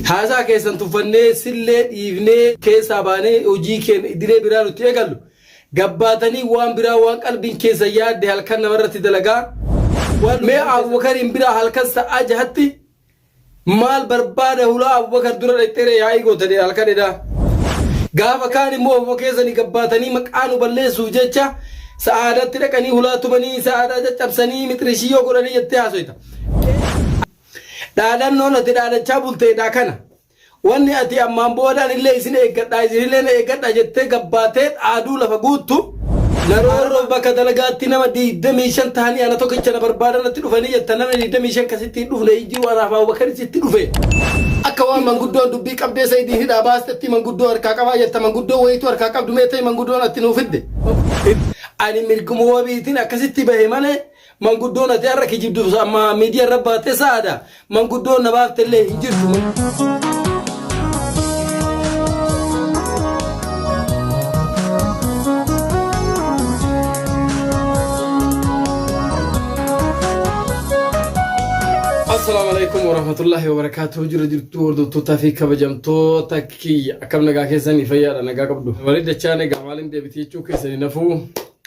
Haasaa keessan tuffannee, sillee dhiifnee, keessaa baanee hojii keenya idilee biraa nuti eegallu. Gabbaatanii waan biraa waan qalbiin keessan yaadde halkan namarratti dalagaa. Mee Abubakariin biraa halkan sa'aa jahatti maal barbaada hulaa Abubakar dura dhaqxeeree yaa'ii gootanii halkan edaa. Gaafa kaan immoo ofuma keessanii gabbaatanii maqaa nu balleessuuf jecha sa'aadatti dhaqanii hulaa tumanii sa'aadaa caccabsanii mixirishii yoo godhanii jettee haasoyta. Dhaadannoon ati dhaadachaa bulte edaa kana. Wanni ati ammaan booda anillee isin eeggadha, isinillee na eeggadha jettee gabbaatee dhaaduu lafa guuttu, na roorroof bakka dalagaatti nama 25 tahanii ana tokkicha na barbaadan natti dhufanii jetta, namni 25 ka sitti hin dhufne hin jiru, anaaf Abubakari sitti dhufe. Akka waan manguddoon dubbii qabdee Sa'idiin hidhaa baastetti manguddoo harkaa qabaa jetta, manguddoo wayiitu harkaa qabdu mee ta'i mangudoon atti nuu fidde. Ani mirguma wabiitiin akkasitti bahe malee Manguddoon ati har'a kijibduuf amma miidiyaa irra baattee sa'aadha. Manguddoon na baafte illee hin jirtu. Assalaamu alaikum warahmatullahi wabarakatuh jirra jirtu hordoftoota fi kabajamtoota kiyya akkam nagaa keessanii fayyaadha nagaa qabdu. Walii dachaan egaa maaliin deebitee jechuu keessanii nafuu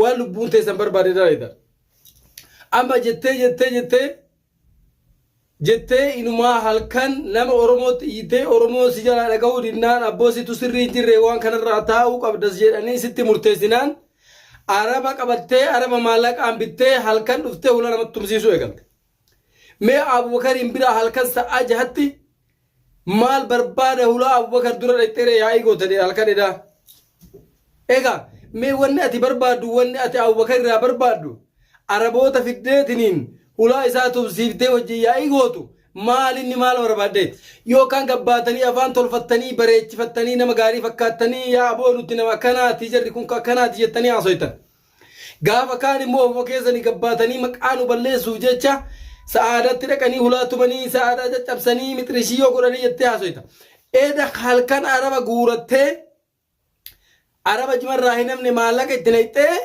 waan lubbuun teessan barbaade dalayda amma jettee jettee jettee jettee inumaa halkan nama oromootti iyyitee oromoo si jalaa dhaga'uu didnaan abboo situ sirrii hin jirre waan kanarraa taa'uu qabdas jedhanii sitti murteessinaan araba qabattee araba maallaqaan bittee halkan dhuftee hula namatti tumsiisuu eegalte. Mee Abubakariin bira halkan sa'aa jahatti maal barbaada hulaa Abubakar dura dhaqxeeree yaa'ii gootanii halkan edaa. Egaa mee wanni ati barbaaddu wanni ati Abubakar irraa barbaaddu Araboota fiddeetiniin hulaa isaa tumsiiftee wajjin yaa'ii gootu maal inni maal barbaaddeeti? Yookaan gabbaatanii afaan tolfattanii bareechifattanii nama gaarii fakkaattanii yaa aboo nuti nama akkanaati jarri kun akkanaati jettanii haasoytan. Gaafa kaan immoo wbo keessani gabbaatanii maqaa nu balleessuuf jecha sa'aadatti dhaqanii hulaa tumanii sa'aadaa caccabsanii mixirishii yoo godhanii jettee haasoyta. Eda halkan araba guurattee araba jimarraa hin hafne maallaqa itti naqxee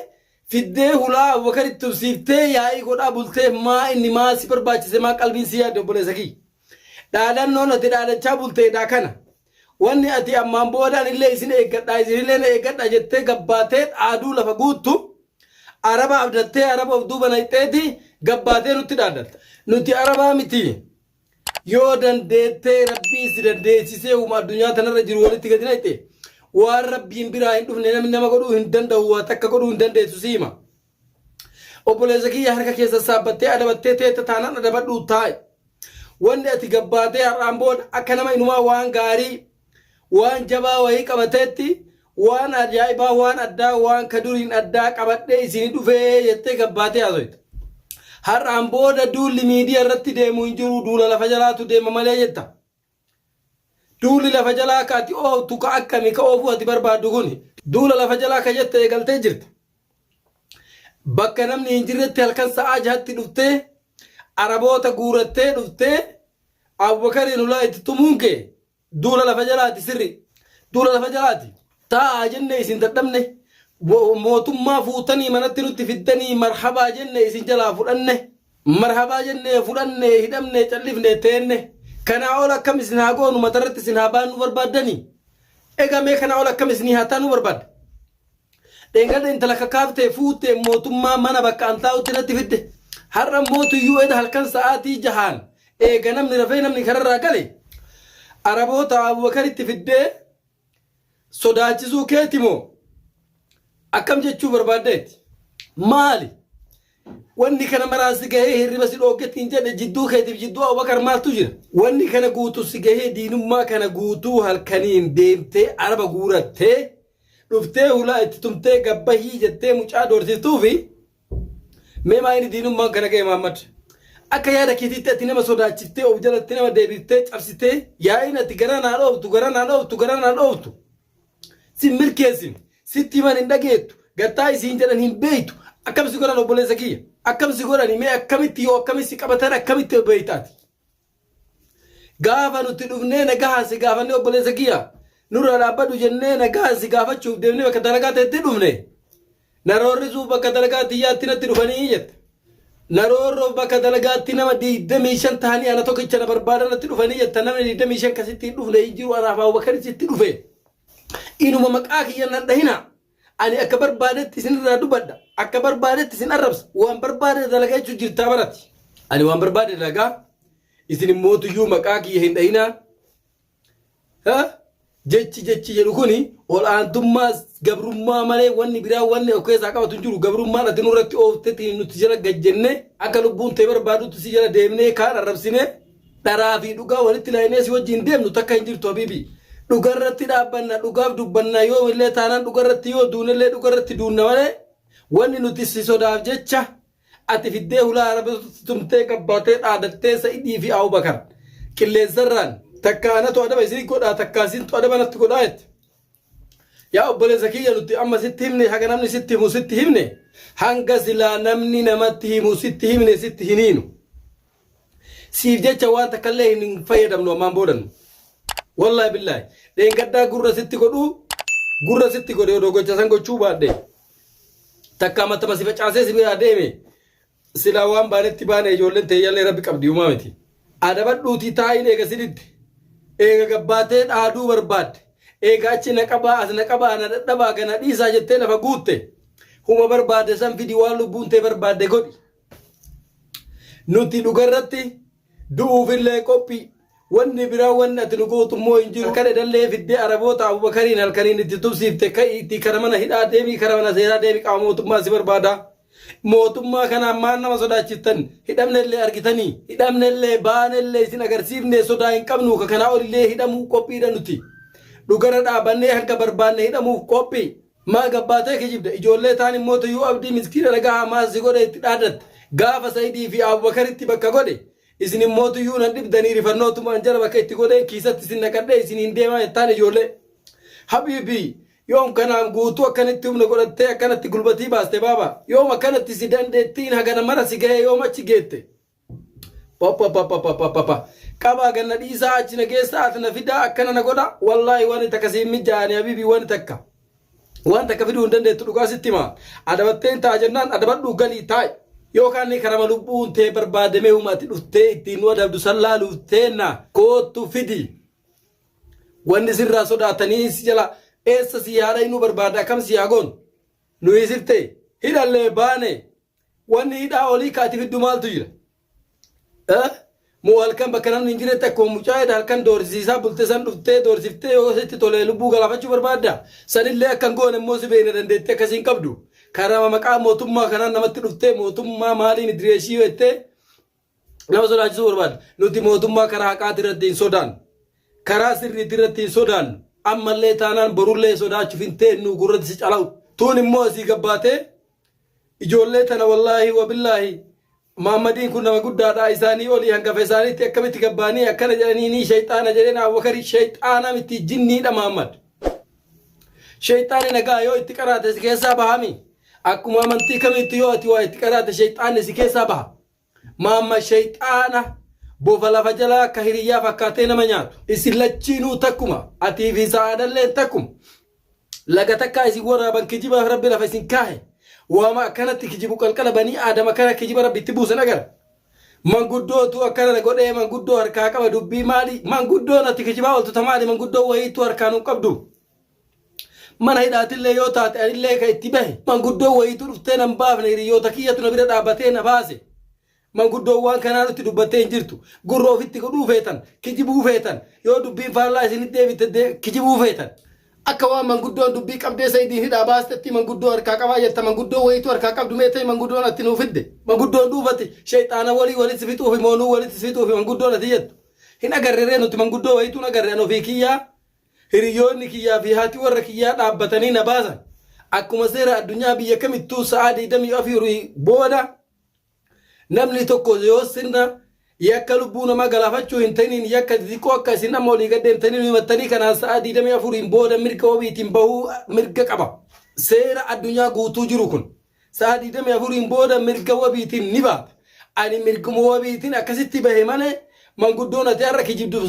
fiddee hulaa Abubakar itti tubsiiftee yaa'ii godhaa bultee maa inni maa si barbaachise maa qalbiin si yaadde obboleessa kiyya. Dhaadannoon ati dhaadachaa bulteedhaa kana. Wanni ati ammaan booda anillee isin eeggadha, isinillee na eeggadha jettee gabbaatee dhaaduu lafa guuttu, Araba abdattee Araba of duuba nayxeeti gabbaatee nutti dhaaddatta. Nuti Arabaa miti. Yoo dandeettee Rabbiin si dandeessisee uuma addunyaa tanarra jiru walitti gadi nayxe, waan Rabbiin biraa hin dhufne namni nama godhuu hin danda'u waa takka godhuu hin dandeessu si hima. Obboleessa kiyya harka kee sassaabbattee adabattee teetta taanaan adabadhuu taa'i. Wanni ati gabbaatee har'aan booda akka nama inumaa waan gaarii waan jabaa wayii qabateetti waan ajaa'ibaa waan addaa waan ka duriin addaa qabadhee isinii dhufee jettee gabbaatee haasoyta. Har'aan booda duulli miidiyaa irratti deemu hin jiru duula lafa jalaatu deema malee jetta. Duulli lafa jalaa ka ati ooftu ka akkami ka oofuu ati barbaaddu kuni? Duula lafa jalaa ka jette eegaltee jirta. Bakka namni hin jirretti halkan sa'aa jahatti dhuftee Araboota guurattee dhuftee Abubakariin hulaa itti tumuun kee duula lafa jalaati sirri. Duula lafa jalaati. Taa'aa jennee isin dadhabne, mootummaa fuutanii manatti nutti fiddanii marhabaa jenne isin jalaa fudhanne, marhabaa jennee fudhanne, hidhamne, callifne, teenne, kanaa ol akkam isin haa goonu matarratti isin haa baannuu barbaaddanii? Egaa mee kanaa ol akkam isinii haa taanuu barbaadda? Dheengadda intala kakaaftee fuutee mootummaa mana bakka an taa'utti natti fidde. Har'a immoo tuyyuu eda halkan sa'aatii jahaan eega namni rafee namni kararraa gale araboota Abubakaritti fiddee sodaachisuu keeti moo akkam jechuu barbaaddeeti maali wanni kana maraan si gahee hirriba si dhooggetti hin jedhe jidduu keetiif jidduu abubakar maaltu jira wanni kana guutu si gahee diinummaa kana guutuu halkaniin deemtee araba guurattee dhuftee hulaa itti tumtee gabbahii jettee mucaa doorsiftuufi Mee maayini diinummaan kana ga'e Maammad? Akka yaada keetiitti ati nama sodaachiftee of jalatti nama deebiftee cabsitee yaa'iin ati garaa naa dhooftu garaa naa dhooftu garaa naa dhooftu sin milkeessine sitti himan hin dhageettu gattaa isiin jedhan hin beektu akkam si godhan obboleessa kiyya akkam si godhani mee akkamitti yoo akkamitti qabatan akkamitti beektaati. Gaafa nuti dhufnee nagahaan si gaafannee obboleessa kiyya nurra dhaabbadhu jennee nagahaan si gaafachuuf deemnee bakka dalagaa ta'etti dhufne. Naroorrisuuf bakka dalagaa tiyyaatti natti dhufanii jette. Naroorroof bakka dalagaatti nama 25 ta'anii ana tokkicha na barbaadan natti dhufanii jetta namni 25 kasitti hin dhufne hin jiru anaaf Abubakar sitti dhufe. Inuma maqaa kiyya nan dhahina. Ani akka barbaadetti isin irraa dubadha. Akka barbaadetti isin arrabsa. Waan barbaade dalaga jechuun jirtaa barati. Ani waan barbaade dalagaa. Isin immoo tuyyuu maqaa kiyya hin dhayinaa. Jechi jechi jedhu kuni ol aantummaa gabrummaa malee wanni biraa wanni of keessaa qabatu hin jiru. Gabrummaan ati nurratti ooftetti nuti jala gad jennee akka lubbuun ta'e barbaadutti si jala deemnee kaan arrabsinee Dharaa fi dhugaa walitti laayinee si wajjin deemnu takka hin jirtu habiibi. Dhugarratti dhaabbanna, dhugaaf dubbanna yoo illee taanaan dhugarratti yoo duunellee dhugarratti duunna malee wanni nuti si sodaaf jecha ati fiddee hulaa arabatotti tumtee gabbaatee dhaadattee sa'idii fi Abubakar qilleensarraan takka anatu adaba isin godhaa takka isintu adaba natti godhaa jette. Yaa obboleessa kiyya nuti amma sitti himne haga namni sitti himu sitti himne hanga silaa namni namatti himu sitti himne sitti hin hiinu. siif jecha waan takka illee hin fayyadamnu ammaan boodan wallahi billahi dheengaddaa gurra sitti godhu gurra sitti godhe odoo gocha san gochuu baadhe takka matama si facaasee si biraa deeme silaa waan baanetti baane ijoolleen teeyyallee rabbi qabdi uumaa miti adabadhuutii taa'iin eega siditti eega gabbaatee dhaaduu barbaadde eega achi na qabaa as na qabaa na dadhabaa kana dhiisaa jettee lafa guutte huma barbaadde san fidi waan lubbuun tee barbaadde godhi Nuti dhugarratti du'uufillee qophii wanni biraa wanni ati nu gootu immoo hin jiru kan edallee fiddee araboota abubakariin halkaniin itti tubsiifte ka'i itti kara mana hidhaa deemii kara mana seeraa deemii qaama mootummaa si barbaada. Mootummaa kanaan maal nama sodaachiftan hidhamnellee argitanii hidhamnellee baanellee isin agarsiifne sodaa hin qabnu ka kanaa olillee hidhamuu qophiidha nuti. Dhugarra dhaabannee hanga barbaanne hidhamuuf qophii. Maa gabbaatee kijibda ijoollee taan immoo tuyuu abdii miskiina nagahaa maal si godhe itti dhaaddatta gaafa saidii fi abubakaritti bakka godhe isin immoo tuyuu nan dhibdanii rifannootumaan jala bakka itti godheen kiisatti isin naqadhee isin hin deemaa jettaan ijoollee habiibii yoom kanaan guutuu akkanitti humna godhattee akkanatti gulbatii baaste baaba yoom akkanatti si dandeettiin hagana mara si gahee yoom achi geette Papapapapapapa. Qabaa ganna dhiisaa achi na geessaa as na fidaa akkana na godha wallaahi wani takka siin mijaa'ani habiibii wani takka. Waan takka fiduu hin dandeettu dhugaa sitti himaa. Adabattee hin ta'a jennaan adabadhuu galii taa'i. Yookaan ni karama lubbuun tee barbaadamee huma ati dhuftee ittiin nu adabdu san laaluuf teenna koottu fidi. Wanni sirraa sodaatanii si jala eessa si haa dhaynuu barbaadda akkam si haa goonu. Nuyi siftee hidhallee baane Wanni hidhaa olii ka ati fiddu maaltu jira? Eh? Moo halkan bakka namni hin jiretti akkuma mucaa jedha halkan doorsisiisaa bulte san dhuftee doorsiftee yoo sitti tolee lubbuu galaafachuu barbaadda? Sanillee akka hin goone immoo si beekna dandeettii akkasii hin qabdu. Karama maqaa mootummaa kanaan namatti dhuftee mootummaa maaliin idireeshii jettee nama sodaachisuu barbaada. Nuti mootummaa karaa haqaati irratti hin sodaannu. Karaa sirriiti irratti hin sodaannu. Ammallee taanaan borullee sodaachuuf hin teennu gurratti si calawu. Tuun immoo asii gabbaatee ijoollee tana wallaahi wabillaahi Maammadiin kun nama guddaadha isaanii olii hangafa isaaniitti akkamitti gabbaanii akkana jedhanii ni shayxaana jedheen Abubakari shayxaana miti jinniidha Maammad. Shayxaani nagaa yoo itti qaraate si keessaa bahami. Akkuma amantii kamiitti yoo ati waa itti qaraate shayxaanni si keessaa baha. Maamma sheyxaana bofa lafa jalaa ka hiriyyaa fakkaattee nama nyaatu. Isin lachiinuu takkuma, atii fi sa'aadalleen takkuma. Laga takkaa isin waraaban kijibaaf Rabbi lafa isin kaahe. Waama akkanatti kijibu qalqala banii Aadam akkana kijiba Rabbi itti buusan agarra. Manguddootu akkana na godhee manguddoo harkaa qaba dubbii maali? Manguddoon ati kijibaa ooltu ta maali? Manguddoo wayiittuu harkaa nun qabdu. Mana hidhaatillee yoo taate anillee ka itti bahe. Manguddoon wayiitu dhuftee nan baafne hiriyyoota kiyyatu na bira dhaabbatee na baase. Manguddoon waan kanaa nutti dubbattee hin jirtu. Gurra ofitti godhuu feetan, kijibuu feetan, yoo dubbiin faallaa isinitti deebite de, kijibuu feetan. Akka waan manguddoon dubbii qabdee Sa'idiin hidhaa baastetti manguddoo harkaa qabaa jetta manguddoo wayiitu harkaa qabdu mee ta'i mangudoon atti nuu fidde. Manguddoon dhuufati sheyxaana wolii walitti si fixuufi moo nuu walitti si fixuufi manguddoon ati jettu. Hin agarre ree nuti manguddoo wayiitu hin agarre an ofii kiyyaa. Hiriyoonni kiyyaa fi haati warra kiyyaa dhaabbatanii na baasan. Akkuma seera addunyaa biyya kamittuu sa'aa 24 booda namni tokko yoo sirna yakka lubbuu namaa galaafachuu hin ta'iniin yakka xixiqqoo akka isin amma olii gaddeen ta'iniin himattanii kanaan sa'aa 24 booda mirga wabiitiin bahuu mirga qaba. Seera addunyaa guutuu jiru kun. Sa'a 24n booda mirga wabiitiin ni baata. Ani mirguma wabiitiin akkasitti bahe malee manguddoon ati har'a kijibdu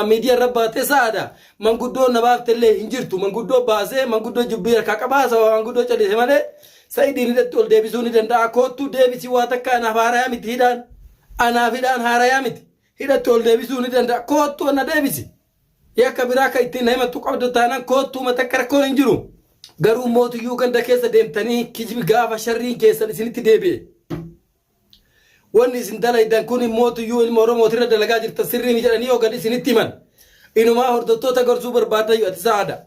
miidiyaa irra baattee sa'aadha. Manguddoon na baafte illee hin jirtu. Manguddoo baasee manguddoo jubbii harkaa qaba haasawaa manguddoo callise malee Sa'idiin hidhatti ol deebisuu ni danda'a. Koottuu deebisii waa takka anaaf haarayaa miti hidhaan. Anaaf hidhaan haarayaa miti. Hidhatti ol deebisuu ni danda'a. Koottuu na deebisi. Yakka biraa akka ittiin na himattu qabda taanaan koottuu mata akka rakkoon hin jiru. Garuu mootuyyuu ganda keessa deemtanii kijibi gaafa sharriin keessan isinitti deebi'e. Wanni isin dalaydan kun mootuyyuu ilma Oromootirra dalagaa jirtan sirrii mi jedhanii yoo gad isinitti himan. Inumaa hordoftoota gorsuu barbaadayyu ati sa'aada.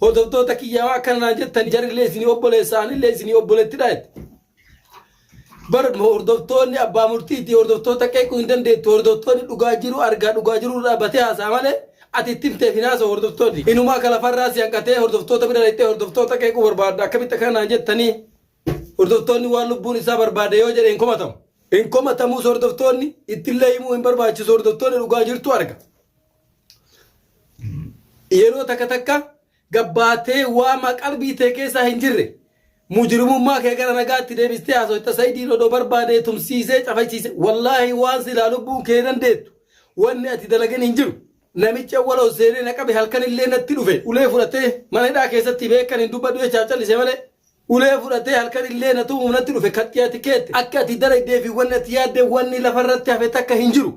Hordoftoota kiyyaa waan akkana naan jettan jarillee isinii obboleessa anillee isinii obboleettidha jette. Bar hordoftoonni abbaa murtiiti hordoftoota qeequu hin dandeettu hordoftoonni dhugaa jiru argaa dhugaa jiru irraa batee haasa'a malee ati itti himteef hin haasa'u hordoftoonni inumaa akka lafarraa si hanqatee hordoftoota bira dhaqxee hordoftoota qeequu barbaadda akkamitti akkana naan jettanii hordoftoonni waan lubbuun isaa barbaade yoo jedhe hin komatamu hin komatamuus hordoftoonni ittillee himuu hin barbaachisu hordoftoonni dhugaa jirtu arga yeroo takka takka gabbaatee waamaa qalbii tee keessaa hin jirre mujrimummaa kee gara nagaatti deebistee haasoyta sayidiin odoo barbaadee tumsiisee cafachiise wallaahi waan silaa lubbuun kee dandeettu wanni ati dalagen hin jiru namichi awwala ol seenee na qabe halkan illee natti dhufe ulee fudhatee mana hidhaa keessatti beekan hin dubbadhu jechaaf callise malee ulee fudhatee halkan illee na tumuuf natti dhufe kattiyaati keette akka ati dalagdee fi wanni ati yaadde wanni lafarratti hafe takka hin jiru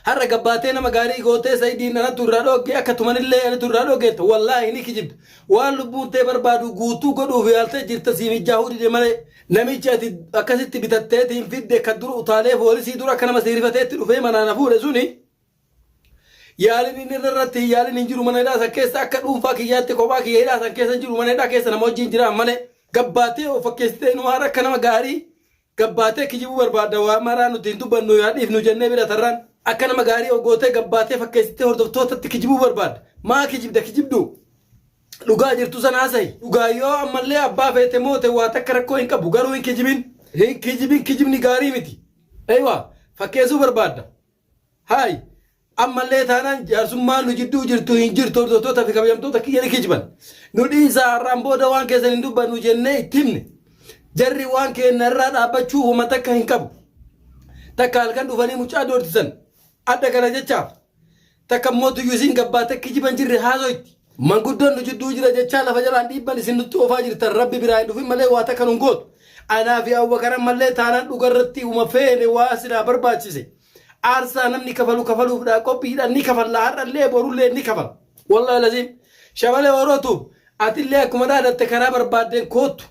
Har'a gabbaatee nama gaarii gootee Sayidiin anatu irraa dhoogge akka tumanillee anatu irraa dhoogge jetta. Wallaahi ni kijibda. Waan lubbuun tee barbaadu guutuu godhuuf yaaltee jirta sii mijjaahuu dide malee. Namichi ati akkasitti bitatteetiin fidde ka dura utaalee foolisii dura akka nama sii rifateetti dhufee manaa na fuudhe suni yaaliin inni irra irratti hin yaaliin hin jiru mana hidhaa san keessa akka dhuunfaa kiyyaatti kophaa kiyya hidhaa san keessa hin jiru mana hidhaa keessa nama wajjin jiraan malee gabbaatee of fakkeessitee numaara akka nama gaarii Gabbaatee kijibuu barbaadda waa maraa nuti hin dubbannu yaa dhiifnu jennee bira tarraan. Akka nama gaarii of gootee gabbaatee fakkeessitee hordoftootatti kijibuu barbaadda. Maa kijibda kijibduu? Dhugaa jirtu sana haasa'i. Dhugaa yoo ammallee abbaa feete moote waa takka rakkoo hin qabu garuu hin kijibin. Hin kijibin kijibni gaarii miti. Eywa fakkeessuu barbaadda. Hay! Ammallee taanaan jaarsummaan nu jidduu jirtu hin jirtu hordoftoota fi kabajamtoota kiyya ni kijiban. Nu dhiisaa har'aan booda waan keessan hin dubbannu jennee itti himne. Jarri waan keenna irraa dhaabbachuu homa takka hin qabu. Takka halkan dhufanii mucaa doorsisan. Adda kana jechaaf. Takka immoo tuyyuu isiin gabbaatee kijiban jirre haasoyti. Manguddoon nu jidduu jira jechaa lafa jalaan dhiibban isin nutti oofaa jirtan rabbi biraa hin dhufin malee waa takka nun gootu. Anaa fi Abubakar ammallee taanaan dhuga irratti uma feene waa silaa barbaachise aarsaa namni kafalu kafaluufdha qophiidha ni kafalla har'allee borullee ni kafala. Wallahi laziim Shabalee Oro Tube atillee akkuma dhaadatte karaa barbaaddeen koottu.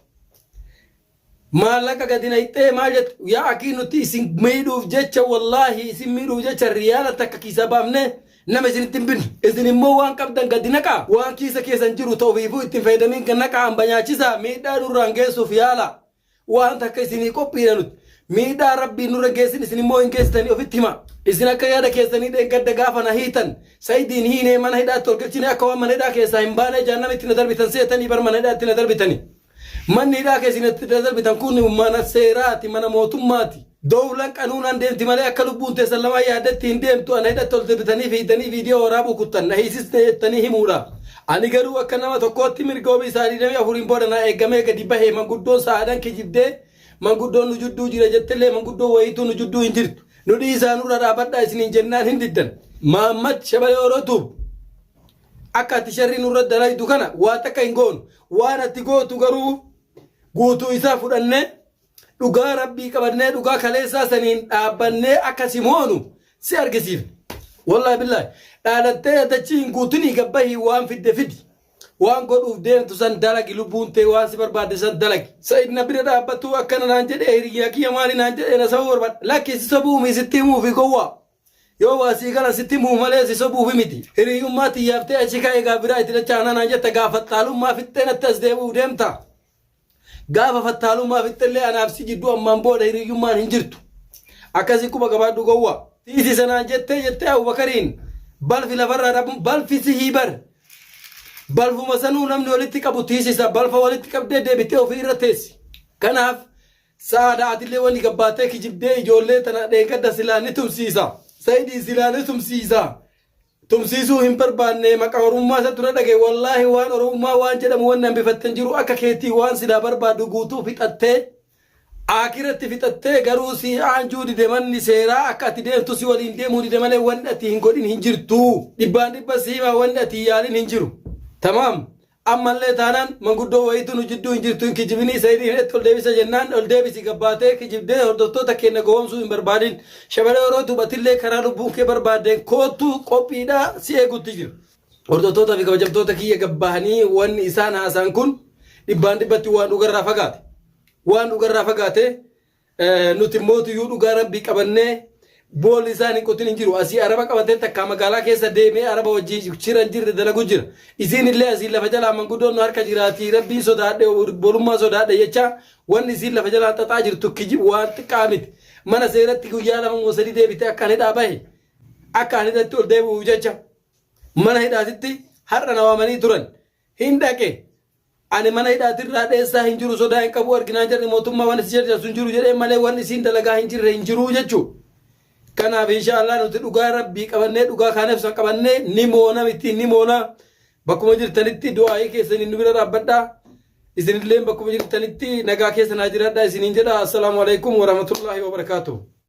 Maallaqa gadi nayxee maal jettu yaa akii nuti isin miidhuuf jecha wallaahi isin miidhuuf jecha riyaala takka kiisaa baafne nama isinitti hin binne. Isin immoo waan qabdan gadi naqaa waan kiisa keessan jiru ta ofiifuu itti hin fayyadamin gad naqaa hamba nyaachisaa miidhaa nurraan geessuuf yaalaa. Waan takka isinii qophiidha nuti. Miidhaa rabbiin nurra hin geessin isin immoo hin geessitanii ofitti himaa. Isin akka yaada keessanii dheengadda gaafa na hiitan Sa'idiin hiinee mana hidhaatti ol galchine akka waan mana hidhaa keessaa hin baanee jahannamitti na darbitan seetanii bar mana hidhaatti na darbitanii. Manni hidhaa keessi natti dadarbitan kun mana seeraati, mana mootummaati. Dowlan qanuunaan deemti malee akka lubbuun teessan lamaa yaaddetti hin deemtu. Ana hidhatti ol debitanii fi hiddanii viidiyoo waraabuu kuttan. Na hiisisne jettanii himuudha. Ani garuu akka nama tokkootti mirga wabii sa'a 24n booda naa eegamee gadi bahe. Manguddoon Sa'aadaan kijibdee manguddoon nu judduu jira jettellee manguddoon wayiituu nu judduu hin jirtu. Nu dhiisaa nurra dhaabadhaa isiniin jennaan hin diddan. Mahammad, Shabalee Oro Tube. Akka ati sharrii nurratti dalaydu kana waa takka hin goonu. Waan ati gootu garuu guutuu isaa fudhannee dhugaa rabbii qabannee dhugaa kaleessaa saniin dhaabbannee akka si moonu si argisiifne. Wallahi billahi dhaadattee yadachii hin guutinii gabbahii waan fidde fidi. Waan godhuuf deemtu san dalagi lubbuun tee waan si barbaadde san dalagi. Sa'id na bira dhaabbatuu akkana naan jedhee hiriyyaa kiyya maali naan jedhee na sabuu barbaadda. Lakki si sobuu mii sitti himuu fi gowwaa. Yoo waa sii galan sitti himuuf malee si sobuuf miti. Hiriyyummaa tiyyaaf ta'e achi ka'ee egaa biraa itti dachaa hanaa naan jetta gaa fattaalummaa fixxee natti as deebi'uuf deemta. Gaafa fattaalummaa fixxellee anaaf si jidduu ammaan booda hiriyyummaan hin jirtu. Akkasii quba qabaadhu gowwaa. Dhiisi sanaan jettee jettee Abubakariin balfi lafarraa dhabu balfi sihii bar. Balfuma sanuu namni walitti qabu tiisisa balfa walitti qabdee deebitee ofii irra teessi. Kanaaf Sa'aada atillee wani gabbaattee kijibdee ijoollee tana dheengadda silaa ni tumsiisa. Saidii silaa ni tumsiisa. Tumsiisuu hin barbaanne maqaa oromummaa isa dura dhage wallaahi waan oromummaa waan jedhamu wanni hambifatte hin jiru akka keetii waan silaa barbaaddu guutuu fixattee aakiratti fixattee garuu si aanjuu dide manni seeraa akka ati deemtu si waliin deemuu dide malee wanni ati hin godhin hin jirtu. Dhibbaan dhibba si himaa wanni ati yaalin hin jiru. Tamaam. Ammallee taanaan manguddoo wayiitu nu jidduu hin jirtu hin kijibinii Saidii hidhatti ol deebisa jennaan ol deebisi gabbaatee kijibdee hordoftoota keenna gowomsuu hin barbaadin. Shamaree Orootuub atillee karaa lubbuun kee barbaaddeen koottu qophiidha si eegutti jirra. Hordoftootaa fi kabajamtoota kiyya gabbahanii wanni isaan haasaan kun dhibbaan dhibbatti waan dhugarraa fagaate. Waan dhugarraa fagaate Nuti mootu yuu dhugaa rabbii qabannee boolli isaan hin qotin hin jiru. Asii araba qabatee takkaa magaalaa keessa deemee araba wajjin shira hin jirre dalagu jira. Isiin illee asii lafa jalaa manguddoon nu harka jiraatii rabbii sodaadhe bolummaa sodaadhe jechaa wanni isiin lafa jalaa xaxaa jirtu kijib waan xiqqaa miti. Mana seeratti guyyaa lama moo sadii deebite akka ani hidhaa bahe akka ani hidhatti ol deebi'u jecha mana hidhaatitti har'a na waamanii turan hin dhaqe Ani mana hidhaati irraa dheessaa hin jiru sodaa hin qabu arginaan jarri mootummaa waan itti jarjarsu hin jiru jedhee malee waan isiin dalagaa hin jirre hin jiruu jechuu. Kanaaf inshaallah nuti dhugaa rabbii qabannee dhugaa kaaneef san qabannee ni moona miti ni moona bakkuma jirtanitti du'aa'ii keessaniin nu bira dhaabbadhaa. Isinillee bakkuma jirtanitti nagaa keessa naa jiraadhaa isiniin jedha. Assalaamu alaikum warahmatullaahi wabarakaatuh.